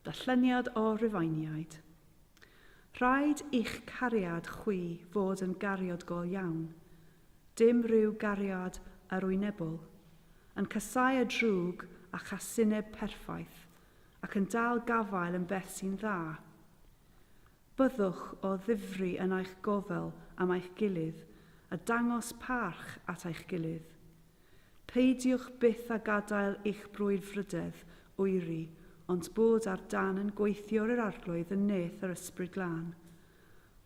Darlleniad o Rufeiniaid. Rhaid i'ch cariad chwi fod yn gariod go iawn, dim rhyw gariad arwynebol, yn casáu y drwg a chasineb perffaith, ac yn dal gafael yn beth sy'n dda. Byddwch o ddifri yn eich gofal am eich gilydd a dangos parch at eich gilydd. Peidiwch byth â gadael i'ch brwdfrydedd oeri ond bod ar dân yn gweithiwr yr Arglwydd yn nes yr Ysbryd Glân.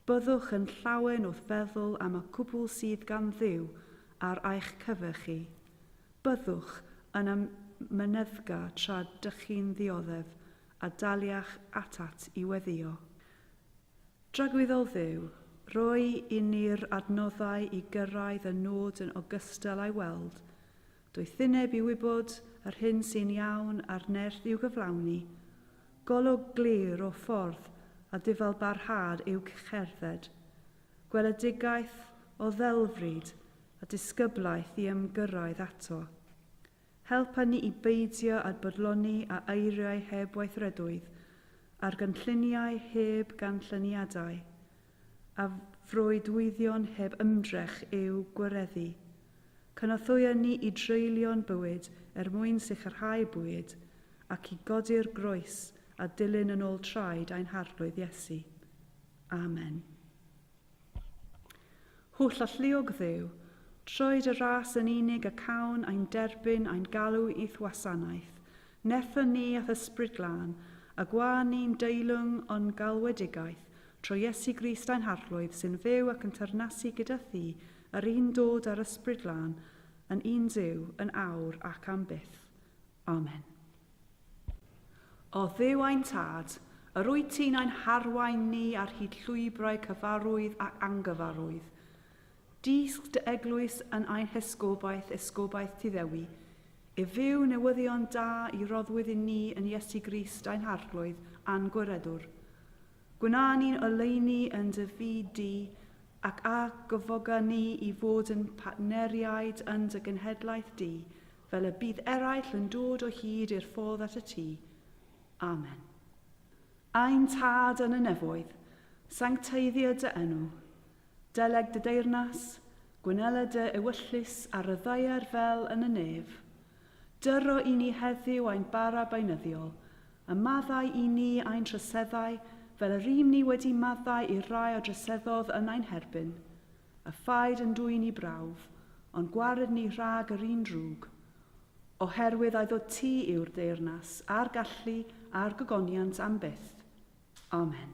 Byddwch yn llawen wrth feddwl am y cwbl sydd gan Dduw ar eich cyfer chi. Byddwch yn amyneddgar tra dych chi'n ddioddef a daliach atat i weddïo. Dragwyddol Dduw, rhoi i ni'r adnoddau i gyrraedd y nod yn ogystal â'i weld, doethineb i wybod yr hyn sy'n iawn a'r nerth i'w gyflawni, golwg glir o ffordd a dyfalbarhad i'w cerdded, gweledigaeth o ddelfryd a disgyblaeth i ymgyrraedd ato. Helpa ni i beidio â bodloni â eiriau heb weithredoedd, ar gynlluniau heb ganlyniadau, a freuddwydion heb ymdrech i'w gwareddu. Cynorthwya ni i dreulio'n bywyd er mwyn sicrhau bwyd, ac i godi'r groes a dilyn yn ôl traed ein Harglwydd Iesu. Amen. Holl alluog Dduw, troed y ras yn unig a cawn ein derbyn ain galw i'th wasanaeth, netho ni a'th Ysbryd Glân, a gwa ni'n deilwng o'n galwedigaeth, tro Iesu Grist ein Harglwydd, sy'n fyw ac yn teyrnasu gyda thi, yr un dod â'r Ysbryd Glân, yn un Duw, yn awr ac am byth. Amen. O Dduw ein Tad, yr wyt ti'n ein harwain ni ar hyd llwybrau cyfarwydd ac angyfarwydd. Dysg dy eglwys yn ein hesgobaeth, esgobaeth Tuddewi, i fyw newyddion da i roddwyd i ni yn Iesu Grist ein Harglwydd a'n Gwiredwr. Gwna ni'n oleuni yn dy fyd di, ac a gyfoga ni i fod yn partneriaid yn dy genhedlaeth di, Fel y bydd eraill yn dod o hyd i'r ffordd at y tŷ. Amen. Ein Tad yn y nefoedd, sancteiddio dy enw. Deleg dy deyrnas, gwnela dy ewyllys ar y ddaear fel yn y nef. Dyro i ni heddiw ein bara beunyddiol, a maddau i ni ein troseddau fel yr ym ni wedi maddau i'r rai a droseddodd yn ein herbyn. A phaid yn dwyn i brawf, ond gwared ni rhag yr un drwg, oherwydd a'i ddod ti yw'r deyrnas, a'r gallu, a'r gogoniant am byth. Amen.